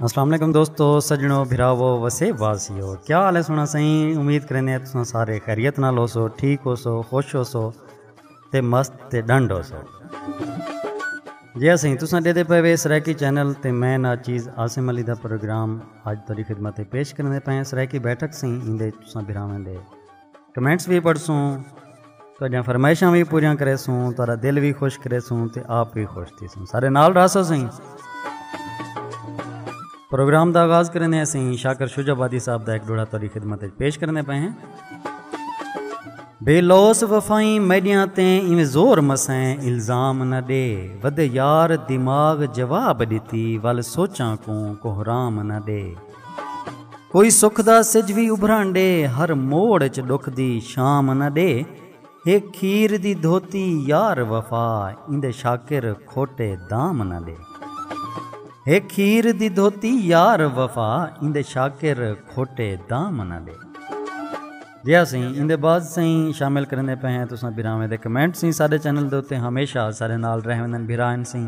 السلام علیکم دوستو سجنو بھراو وسے واسیو کیا حال ہے سونا سائیں امید کریندے تساں سارے خیریت نال ہو سو ٹھیک ہو سو خوش ہو سو تے مست تے ڈنڈ ہو سو جی ہاں سائیں تساں دے دے پے وے سرائیکی چینل تے میں نا چیز عاصم علی دا پروگرام اج تیری خدمت پیش کریندے پے سرائیکی بیٹھک سائیں ایندے تساں بھراویں دے کمنٹس بھی پڑھسوں تہاڈیاں فرمائشاں بھی پوریاں کریسوں تہاڈا دل بھی خوش کریسوں تے آپ بھی خوش تھیسوں سارے نال رہسو سائیں پروگرام دا آغاز کرنے ہیں سائیں شاکر شجا بادی صاحب دا ایک ڈوڑا تہاڈی خدمت وچ پیش کرنے پئے ہیں بے لوس وفائیں میڈیاں تے ایویں زور مسیں الزام نہ دے ودے یار دماغ جواب ڈتی ول سوچاں کوں کوہرام نہ دے کوئی سکھ دا سج وی ابھرن ڈے ہر موڑ اچ ڈکھ دی شام نہ ڈے ہے کھیر دی دھوتی یار وفا ایندے شاکر کھوٹے دام نہ ڈے ہے کھیر دی دھوتی یار وفا ایندے شاکر کھوٹے دام نہ ڈے جی ہاں سائیں اندے بعد سائیں شامل کرنے پہ ہیں تو ساں بھراویں دے کمنٹ سائیں سارے چینل دے اوتے ہمیشہ سارے نال رہویں دن بھرائیں سائیں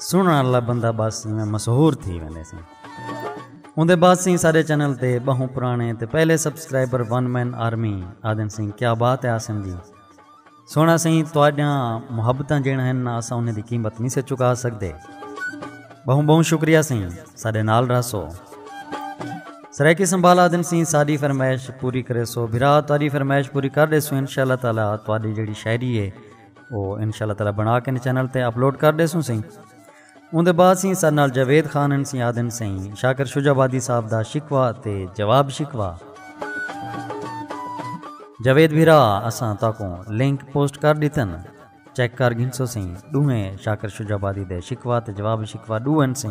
سنن والا بندہ بس میں مشہور تھی ویندے سن اوندے بعد سیں سارے چینل تے بہوں پرانے تے پہلے سبسکرائبر ون مین آرمی آدن سیں کیا بات ہے آسن جی سونا سیں تواڈیاں محبتاں جیڑ ہیں نہ اسا انہیں دی قیمت نہیں سے چکا سکدے بہوں بہوں شکریہ سیں سارے نال رہسو سرائیکی سنبھالا دن سیں ساری فرمائش پوری کرے سو بھرا تاری فرمائش پوری کر دے سو انشاءاللہ تعالی تاری جڑی شاعری ہے او انشاءاللہ تعالی بنا کے چینل تے اپلوڈ کر دے سوں سیں اون دے بعد سیں سر نال جاوید خان ان سیں آدن سیں شاکر شجا آبادی صاحب دا شکوا تے جواب شکوا جاوید بھیرا اساں تاکوں لنک پوسٹ کر دیتن چیک کر گھنسو سیں ڈوہیں شاکر شجا آبادی دے شکوا تے جواب شکوا ڈو ان سیں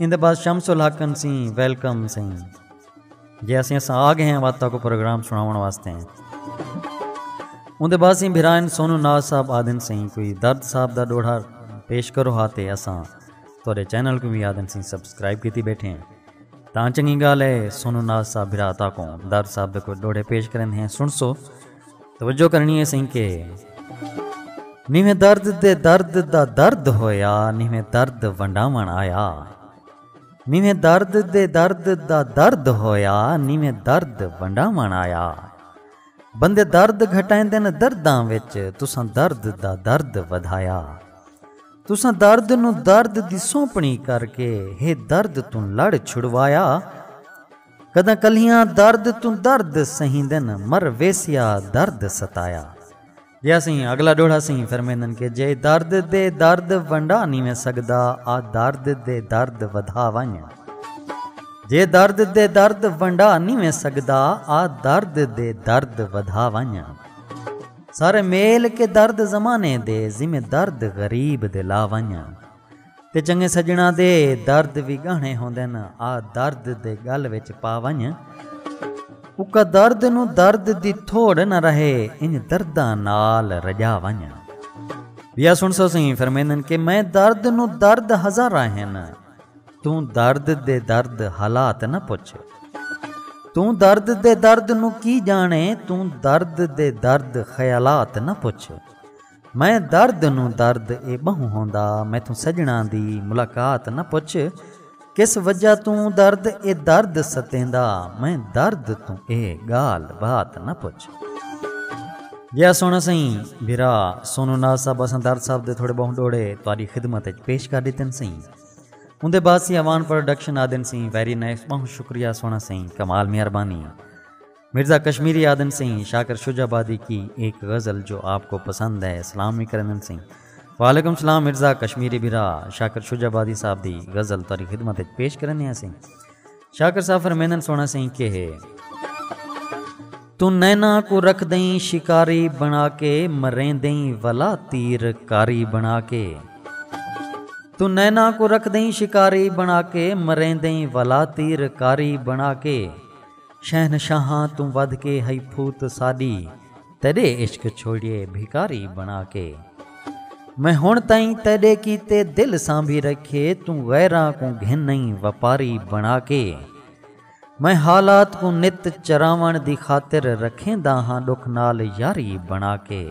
ایندے بعد شمس الحق انسی ویلکم سیں جے اسیں اساں آ گئے ہیں وقت کو پروگرام سناون واسطے ہیں اندے بعد سیں بھرائن سونو ناز صاحب آدن سیں کوئی درد صاحب دا ڈوڑا پیش کرو ہاتے اساں تورے چینل کو بھی آدن سیں سبسکرائب کیتی بیٹھے ہیں تاں چنگی گال ہے سونو ناز صاحب بھرا تا کو درد صاحب دے کوئی ڈوڑے پیش کرن ہیں سن سو توجہ کرنی ہے سائیں کے نیویں درد دے درد دا درد ہویا نیویں درد ونڈاون آیا نیویں درد دے درد دا درد ہویا نیویں درد ونڈاون آیا بندے درد گھٹائندے نے درداں وچ تساں درد دا درد ودھایا تساں درد نو درد دی سونپنی کر کے ہے درد توں لڑ چھڑوایا کداں کلیاں درد توں درد سہیندن مر ویسیا درد ستایا جیا سیں اگلا ڈوڑھا سیں فرمیندن کہ جے درد دے درد ونڈا نی ویں سگدا آ درد دے درد ودھا ونج جے درد دے درد ونڈا نی ویں سگدا آ درد دے درد ودھا ونج سارے میل کے درد زمانے دے ذمہ درد غریب دے لا ونج تے چنگے سڄݨاں دے درد وی ڳاہݨے ہوندن آ درد دے ڳل وچ پا ونڄ اکا درد نوں درد دی تھوڑ نہ رہے انڄ درداں نال رڄا ونڄ ٻیا سݨ سوسئیں فرمیندن کہ میں درد نوں درد ہزاراں ہن توں درد دے درد حالات نہ پچھ توں درد دے درد نوں کی ڄاݨے توں درد دے درد خیالات نہ پچھ میں درد نوں درد اے ٻہوں ہوندا میتھوں سڄݨاں دی ملاقات نہ پچھ کس وجہ توں درد اے درد ستیندا میں درد توں اے ڳالھ بات نہ پچھ۔ جیا سونا سئیں بھرا سونو ناز صاحب اساں درد صاحب دے تھوڑے ٻہوں ݙوہڑے تہاݙی خدمت اچ پیش کر ݙتن سئیں اوندے بعد سی اوان پروڈکشن آدن سئیں ویری نائس ٻہوں شکریہ سونا سئیں کمال مہربانی۔ مرزا کشمیری آدھن سی شاکر شجہ آبادی کی ایک غزل جو آپ کو پسند ہے سلام وی کریندن سی۔ وعلیکم سلام مرزا کشمیری بھرا شاکر شجہ آبادی صاحب دی غزل تہاڈی خدمت اچ پیش کریندے ہاں سی۔ شاکر صاحب فرمیندن سونا سی کہ ہے۔ توں نینا کوں رکھدیں شکاری بنا کے مریندیں ولا تیر کاری بنا کے۔ توں نینا کوں رکھدیں شکاری بنا کے مریندیں ولا تیر کاری بنا کے۔ شہنشاہاں توں ودھ کے ہئی پھوت ساݙی تیݙے عشق چھوڑیے بھکاری بݨا کے میں ہݨ تئیں تیݙے کیتے دل سانبھی رکھیے توں غیراں کوں گھن نئیں وپاری بݨا کے میں حالات کوں نت چراوݨ دی خاطر رکھیندا ہاں ݙکھ نال یاری بݨا کے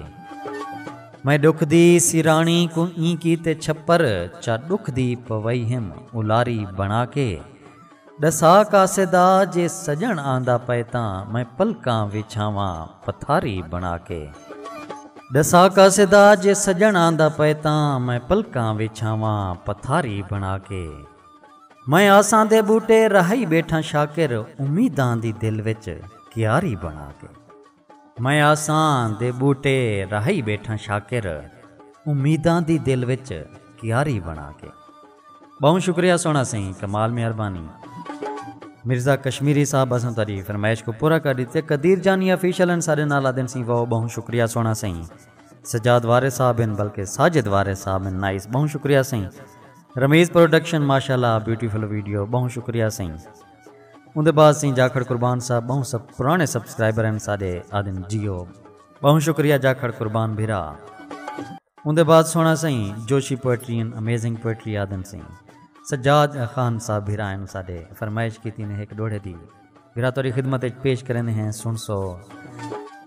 میں ݙکھ دی سراݨی کوں ایں کیتے چھپر چا ݙکھ دی پوئی ہم الاری بݨا کے۔ ڈسا قاصدا جے سجݨ آندا پئے تاں میں پلکاں وچھاواں پتھاری بݨا کے۔ ڈسا قاصدا جے سجݨ آندا پئے تاں میں پلکاں وچھاواں پتھاری بݨا کے۔ میں آساں دے ٻوٹے رہائی ٻیٹھاں شاکر امیداں دی دل وچ کیاری بݨا کے۔ میں آساں دے ٻوٹے راہی ٻیٹھاں شاکر امیداں دی دل وچ کیاری بݨا کے۔ ٻہوں شکریہ سوہݨا سئیں کمال مہربانی۔ مرزا کشمیری صاحب اساں تہاݙی فرمائش کوں پورا کر ݙتے قدیر جانی آفیشل ہن ساݙے نال آہدن سئیں واؤ ٻہوں شکریہ سوہݨا سئیں سجاد وارث صاحب ہن بلکہ ساجد وارث صاحب ہن نائس ٻہوں شکریہ سئیں رمیز پروڈکشن ماشاءاللہ بیوٹیفل ویڈیو ٻہوں شکریہ سئیں۔ اوندے بعد سئیں جاکھڑ قربان صاحب ٻہوں سب پرانے سبسکرائبر ہن ساݙے آدن جیو ٻہوں شکریہ جاکھڑ قربان بھرا اوندے بعد سوہݨا سئیں Joshi poetry and amazing poetry آدن سئیں سجاد خان صاحب بھرا ہن ساݙے فرمائش کیتی نے ہک ݙوہڑے دی بھرا تہاݙی خدمت اچ پیش کریندے ہیں سݨسو۔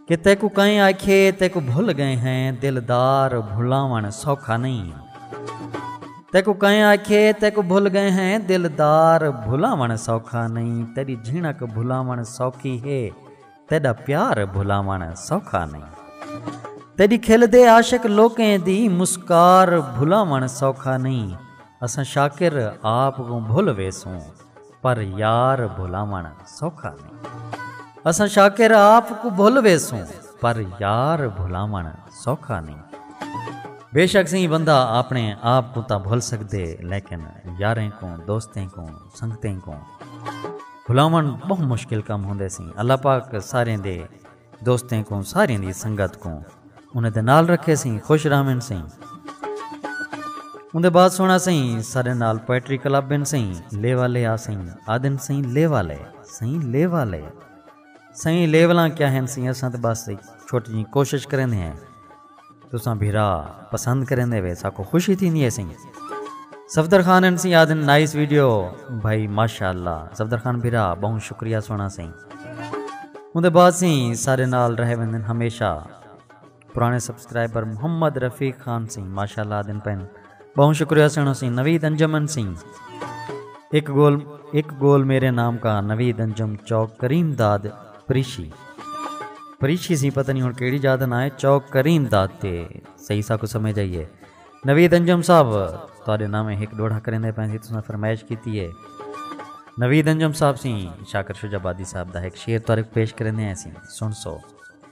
کہ تیکوں کئیں آکھیے تیکوں بھل ڳئے ہیں دلدار بھلاوݨ سوکھا نئیں تیکوں کئیں آکھیے تیکوں بھل ڳئے ہیں دلدار بھلاوݨ سوکھا نئیں تیݙی جھنک بھلاوݨ سوکھی ہے تیݙا پیار بھلاوݨ سوکھا نئیں تیݙی کھل دے عاشق لوکیں دی مسکار بھلاوݨ سوکھا نئیں اساں شاکر آپ کوں بھل ویسوں پر یار بھلاوݨ سوکھا نئیں۔ اساں شاکر آپ کوں بھل ویسوں پر یار بھلاوݨ سوکھا نئیں۔ بیشک سئیں بندہ آپݨے آپ کوں تاں بھل سڳدے لیکن یاریں کوں، دوستیں کوں، سنگتیں کوں بھلاوݨ ٻہوں مشکل کم ہوندے سئیں۔ اللہ پاک ساریں دے۔ دوستیں کوں ساریاں دی سنگت کوں انہیں دے نال رکھے سیں خوش رہون سیں اندے بعد سونا سیں سارے نال پوئٹری کلب بن سیں لے والے آ سیں آدن سیں لے والے سیں لے والے سیں لیولاں کیا ہیں سیں اساں تے بس چھوٹی جی کوشش کریں ہیں تساں بھرا پسند کریندے وے ساکو خوشی تھیندی ہے سیں صفدر خان این سی آدن نائس ویڈیو بھائی ماشاءاللہ صفدر خان بھرا بہن شکریہ سونا سیں ان دے بعد سی سارے نال رہے وندن ہمیشہ پرانے سبسکرائبر محمد رفیق خان سی ماشاءاللہ آدن پہن بہوں شکریہ سنڑ اسیں نوید انجم انسیں اک گول اک گول میرے نام کا نوید انجم چوک کریم داد پریشی پریشی سی پتہ نہیں ہن کیڑی جاد نہ ہے چوک کریم داد تے صحیح سا کو سمجھ آئیے نوید انجم صاحب تواڈے نام ایک ڈوڑھا کریندے پین سی تساں فرمائش کیتی ہے نوید انجم صاحب سی شاکر شجاع آبادی صاحب دا ایک شعر تاریخ پیش کریندے ہیں سی سن سو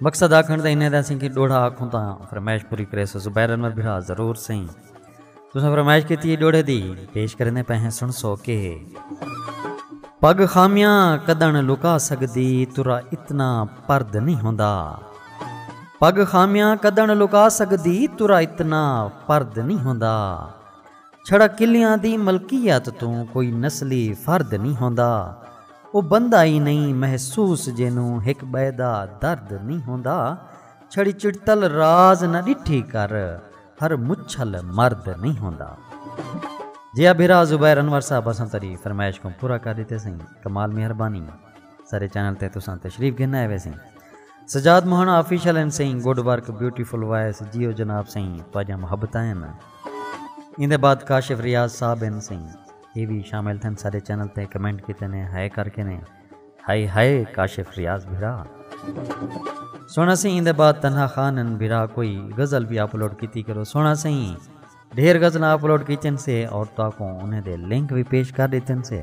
مقصد آکھنڑ دا انہیدا سئیں کہ ڈوہڑا آکھوں تاں فرمائش پوری کریسو زبیر انور بھرا ضرور سئیں تساں فرمائش کیتی ہے ڈوہڑے دی پیش کریندے پئے ہیں سنسو کہ پگ خامیاں کدن لکا سگدی ترا اتنا پرد نہیں ہوندا پگ خامیاں کدن لکا سگدی ترا اتنا پرد نہیں ہوندا چھڑا قلعیاں دی ملکیت توں کوئی نسلی فرد نی ہوندا۔ او بندہ ای نی محسوس جینوں ہک بئے دا درد نی ہوندا۔ چھڑی چڑتل راز نہ ڈٹھی کر ہر مچھل مرد نی ہوندا۔ جی آ بھرا زبیر انور صاحب اساں تیڈی فرمائش کوں پورا کر ڈتے سئیں کمال مہربانی سارے چینل تے تساں تشریف گھن آئے ویسیں۔ سجاد موہن آفیشل این سئیں گڈ ورک بیوٹیفل وائس جیو جناب سئیں تہاڈیاں محبتاں ہن ایندے بعد کاشف ریاض صاحب ہن سئیں اے وی شامل تھن ساڈے چینل تے کمنٹ کیتے نے ہائے کر کے نے ہائے ہائے کاشف ریاض بھرا سونا سئیں ایندے بعد تنہا خان ہن بھرا کوئی غزل بھی اپلوڈ کیتی کرو سونا سئیں ڈھیر غزلاں اپلوڈ کیتن سے اور تاکوں انہیں دے لنک بھی پیش کر دیتن سے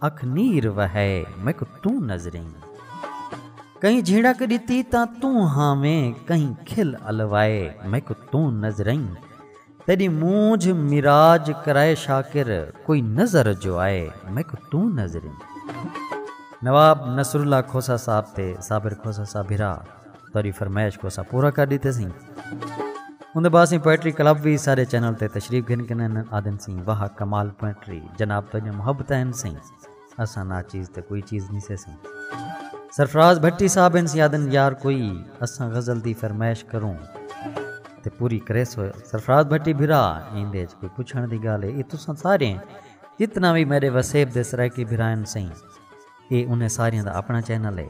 اکھ نیر وہئے میکوں توں نظریں۔ کہیں جھیڑک ݙتی تاں توں ہانویں کہیں کھل الوائے میکوں توں نظریں۔ تیݙی مونجھ میراج کرائے شاکر کوئی نظر جو آئے میکوں توں نظریں۔ نواب نصراللہ کھوسہ صاحب تے صابر کھوسہ صاحب بھرا تہاݙی فرمائش کوں اساں پورا کر ݙتے سئیں۔ اوندے بعد سئیں پوئٹری کلب وی ساݙے چینل تے تشریف گھن گھن آہدن سئیں واہ کمال پوئٹری جناب تہاݙیاں محبتاں ہن سئیں اساں ناچیز تے کوئی چیز نی سے سئیں۔ سرفراز بھٹی صاحب ہن سئیں آہدن یار کوئی اساں غزل دی فرمائش کروں تے پوری کریسو سرفراز بھٹی بھرا ایندے اچ کوئی پچھݨ دی ڳالھ ہے اے تساں سارے جتنا وی میݙے وسیب دے سرائیکی بھرا ہن سئیں اے انہیں ساریاں دا اپݨا چینل ہے۔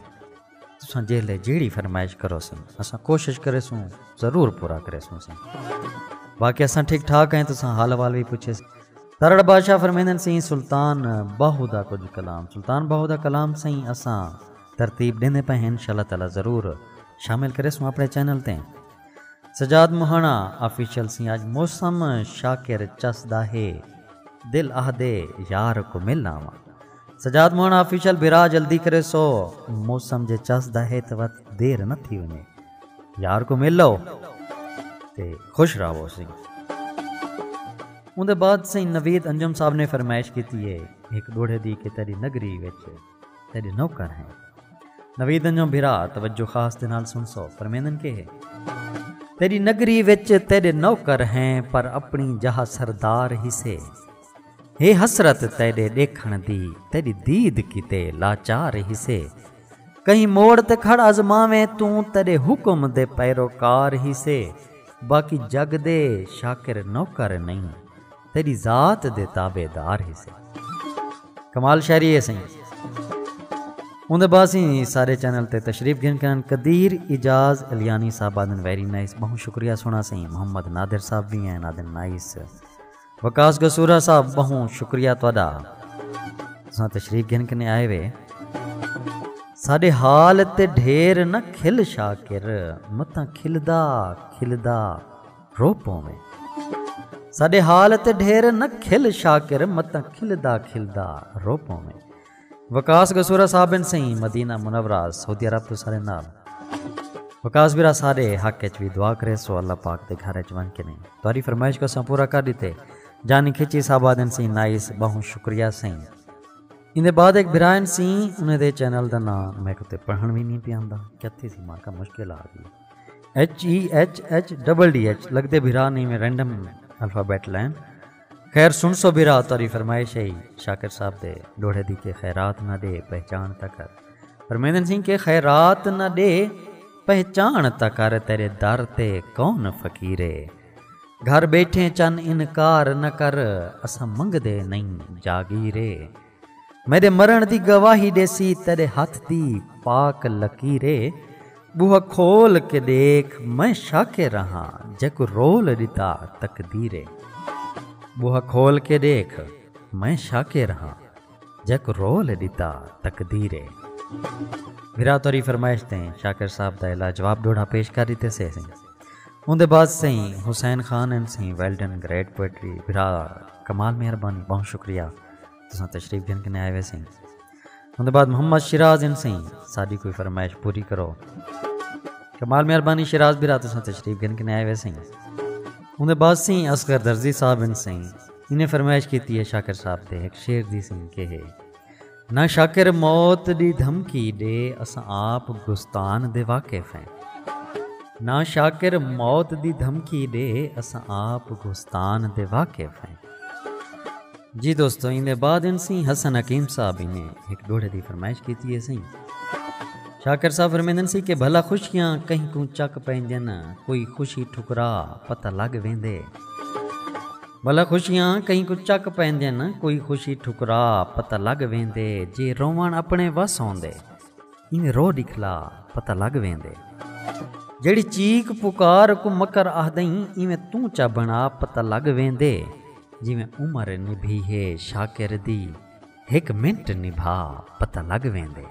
تساں جیلھے جیڑھی فرمائش کروسن اساں کوشش کریسوں ضرور پورا کریسوں سیں باقی اساں ٹھیک ٹھاک ہیں تساں حال حوال بھی پوچھے سیں ترڑ بادشاہ فرمیندن سیں سلطان باہو دا کچھ کلام سلطان باہو دا کلام سیں اساں ترتیب ڈیندے پے ہیں انشاءاللہ تعالی ضرور شامل کرے سوں اپنے چینل تے سجاد مہانا آفیشل سیں اج موسم شاکر چس دا ہے دل اہ دے یار کو مل آواں سجاد موہن آفیشل بھرا جلدی کریسو موسم جے چس دا ہے تاں وت دیر نہ تھی ونجے یار کوں مل لو تے خوش راہو سیں اوندے بعد سیں نوید انجم صاحب نے فرمائش کیتی ہے ہک ڈوڑھے دی کہ تیری نگری وچ تیرے نوکر ہیں نوید انجم بھرا توجہ خاص دے نال سن سو فرمیندن کے ہے تیری نگری وچ تیرے نوکر ہیں پر اپنی جہاں سردار ہی سے ہے حسرت تیݙے ݙیکھݨ دی تیݙی دید کیتے لاچار ہیسے کہیں موڑ تے کھڑ آزماویں توں تیݙے حکم دے پیروکار ہیسے باقی جڳ دے شاکر نوکر نئیں تیݙی ذات دے تابع دار ہیسے۔ کمال شاعری ہے سئیں اوندے بعد سی سارے چینل تے تشریف گھن کرن قدیر اعجاز الیانی صاحب آدن ویری نائس بہوں شکریہ سونا سئیں محمد نادر صاحب وی ہیں آدن نائس۔ وقاص گسورہ صاحب بہوں شکریہ تہاڈا تساں تشریف گھن کنے آئے وے ساڈے حال تے ڈھیر نہ کھل شاکر متاں کھلدا کھلدا رو پوویں ساڈے حال تے ڈھیر نہ کھل شاکر متاں کھلدا کھلدا رو پوویں۔ وقاص گسورہ صاحب بن سئیں مدینہ منورہ سعودی عرب توں سارے نال وقاص برا ساڈے حق اچ وی دعا کریسو اللہ پاک دے گھر اچ ونج کنیں تہاڈی فرمائش کوں اساں پورا کر ڈتے جانی کھچی صاحب آدن سئیں نائس باہوں شکریہ سئیں ایندے بعد ایک بھرا ہن سئیں انہیں دے چینل دا ناں میکو تے پڑھن وی نہیں پیاندا کیتھی سی ماں کا مشکل آ گئی H E H H double D H لگدے بھرا نہیں میں رینڈم الفابیٹ لین خیر سن سو بھرا تاری فرمائش ہے شاکر صاحب دے ڈوڑھے دی کے خیرات نہ دے پہچان تک کر پرمیندن سنگھ کے خیرات نہ دے پہچان تک کر تیرے در تے کون فقیرے گھر بیٹھے چن انکار نہ کر اسا منگ دے نہیں جاگیرے میڈے مرݨ دی گواہی ݙیسی تیڈے ہتھ دی پاک لکیر اے ٻوہا کھول کے ݙیکھ میں شاکر رہاں جیکوں رول ݙتا تقدیر اے ٻوہا کھول کے ݙیکھ میں شاکر رہاں جیکوں رول ݙتا تقدیر اے بھرا توری فرمائش تے شاکر صاحب دا الا جواب ڈوڑھا پیش کر ݙتے سے سیں اون دے بعد سیں حسین خان این سیں ویلڈن گریٹ پوئٹری بھرا کمال مہربانی بہت شکریہ تساں تشریف گھن کنے آئے ہوئے سیں ان بعد محمد شیراز ان سیں ساری کوئی فرمائش پوری کرو کمال مہربانی شیراز بھی رات تشریف گھن کنے آئے ہوئے سیں ان بعد سیں اصغر درزی صاحب ان سیں انہیں فرمائش کیتی ہے شاکر صاحب تے ایک شیر دی سیں کہ ہے نہ شاکر موت دی دھمکی دے اساں آپ گستان دے واقف ہیں نہ شاکر موت دی دھمکی دے اساں آپ گستان دے واقف ہیں جی دوستو ایندے بعد ان سی حسن حکیم صاحب نے ایک گھوڑے دی فرمائش کیتی ہے سی شاکر صاحب فرمیندن سی کہ بھلا خوشیاں کہیں کوں چک پیندن کوئی خوشی ٹھکرا پتہ لگ ویندے بھلا خوشیاں کہیں کوں چک پیندن کوئی خوشی ٹھکرا پتہ لگ ویندے جے روون اپنے وس ہوندے این رو دکھلا پتہ لگ ویندے جیڑی چیک پکار کو مکر آہدیں ایویں توں چا بنا پتہ لگ ویندے جیویں عمر نبھی ہے شاکر دی ہک منٹ نبھا پتہ لگ ویندے۔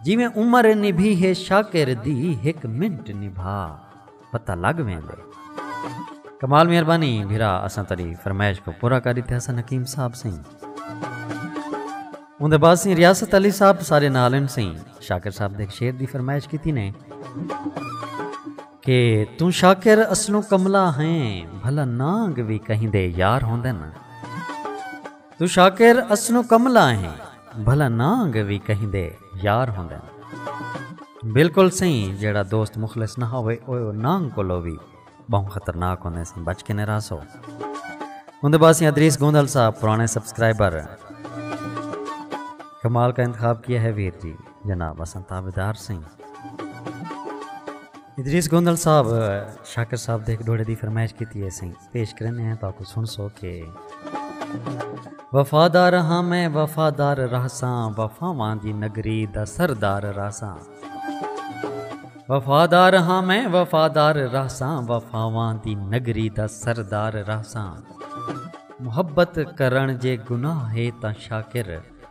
جیویں عمر نبھی ہے شاکر دی ہک منٹ نبھا پتہ لگ ویندے۔ کمال مہربانی بھرا اساں تیڈی فرمائش کوں پورا کر ڈتے حسن حکیم صاحب سئیں اوندے بعد سئیں ریاست علی صاحب سارے نال ہن سئیں شاکر صاحب دے ہک شعر دی فرمائش کیتی نے۔ کہ توں شاکر اصلوں کملا ہیں بھلا نانگ وی کہیں دے یار ہوندن۔ توں شاکر اصلوں کملا ہیں بھلا نانگ وی کہیں دے یار ہوندن۔ بالکل سئیں جیڑھا دوست مخلص نہ ہووے او نانگ کولو وی بہوں خطرناک ہوندے سئیں بچ کے نے راہسو۔ اوندے بعد سئیں ادریس گوندل صاحب پرانے سبسکرائبر کمال کا انتخاب کیا ہے ویر جی۔ جناب اساں تابعدار سئیں۔ ادریس گوندل صاحب شاکر صاحب دے ہک ڈوہڑے دی فرمائش کیتی ہے سئیں پیش کریندے ہیں تہاکوں سنسو کہ۔ وفادار ہاں میں وفادار رہساں وفاواں دی نگری دا سردار رہساں۔ وفادار ہاں میں وفادار رہساں وفاواں دی نگری دا سردار رہساں۔ محبت کرݨ جے گناہ ہے تاں شاکر۔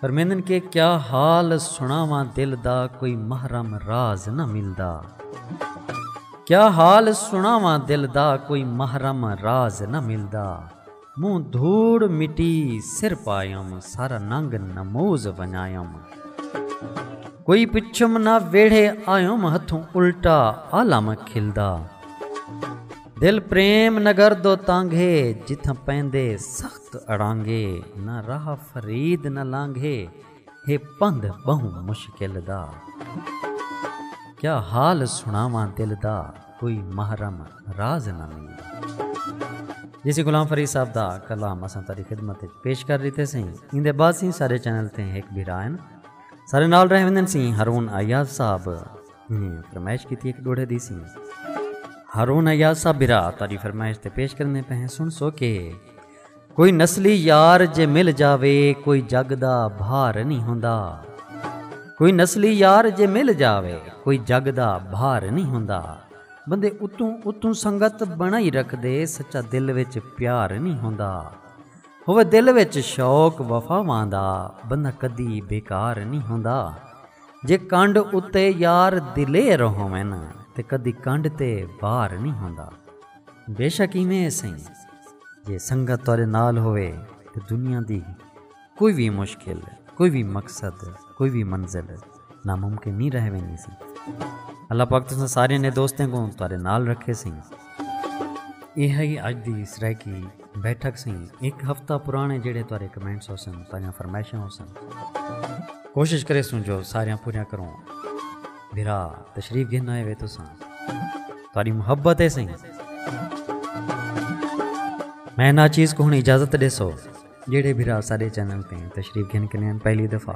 فرمیندن کہ کیا حال سنڑاواں دل دا کوئی محرم راز نہ ملدا کیا حال سنڑاواں دل دا کوئی محرم راز نہ ملدا منہ دھوڑ مٹی سر پایم سارا ننگ نموز ونجایم کوئی پچھم نہ ویڑھے آیم ہتھوں الٹا عالم کھلدا۔ دل پریم نگر دو تانگھے جتھاں پیندے سخت اڑانگھے نہ راہ فرید نہ لانگھے ہے پندھ ٻہوں مشکل دا کیا حال سݨاواں دل دا کوئی محرم راز نہ ملدا۔ جی سی غلام فرید صاحب دا کلام اساں تہاݙی خدمت وچ پیش کر ݙتے سئیں ایندے بعد سئیں ساݙے چینل تے ہک بھرا ہن ساݙے نال رہ ویندن سئیں ہارون ایاز صاحب۔ میں فرمائش کی تھی ایک ڈوڑھے دی سی ہارون ایاسا برا تاری فرمائش تے پیش کرنے پہ ہیں سن سو کے کوئی نسلی یار جے مل جاوے کوئی جگ دا بھار نہیں ہوندا کوئی نسلی یار جے مل جاوے کوئی جگ دا بھار نہیں ہوندا بندے اتوں اتوں سنگت بنائی رکھ دے سچا دل وچ پیار نہیں ہوندا ہوئے دل وچ شوق وفا واندا بندہ کدی بیکار نہیں ہوندا جے کنڈ اتے یار دلیر ہووے نا تے کدی کنڈ تے وار نی ہوندا۔ بیشک ایویں ہے سئیں جے سنگت تہاڈے نال ہووے تے دنیا دی کوئی وی مشکل، کوئی وی مقصد، کوئی وی منزل ناممکن نی رہ ویندی سئیں۔ اللہ پاک تساں ساریاں نے دوستیں کوں تہاڈے نال رکھے سئیں۔ ایہا ہی اج دی سرائیکی۔ بیٹھک سی ہک ہفتہ پرانے جیڑے تہاڈے کمنٹس ہوسن تہاڈیاں فرمائشاں ہوسن کوشش کریسوں جو ساریاں پوریاں کروں بھرا تشریف گھن آئے وے تساں تہاڈی محبت ہے سی میں نا چیز کو ہن اجازت ڈیسو جیڑے بھرا سارے چینل تے تشریف گھن کنین پہلی دفعہ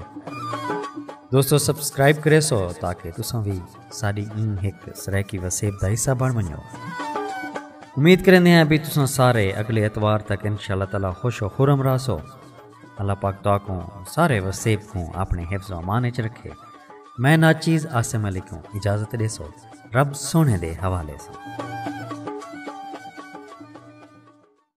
دوستو سبسکرائب کریسو تاکہ تساں بھی ساݙی ایں ہک سرائیکی وسیب دا حصہ بݨ ونڄو۔ امید کریندے ہیں بھئی تساں سارے اڳلے اتوار تک انشاء اللہ تعالی خوش و خرم رہسو۔ اللہ پاک تہاکوں سارے وسیب کوں آپݨے حفظ و امان اچ رکھے۔ میں ناچیز عاصم علی کوں اجازت ݙیسو رب سوہݨے دے حوالے ساں۔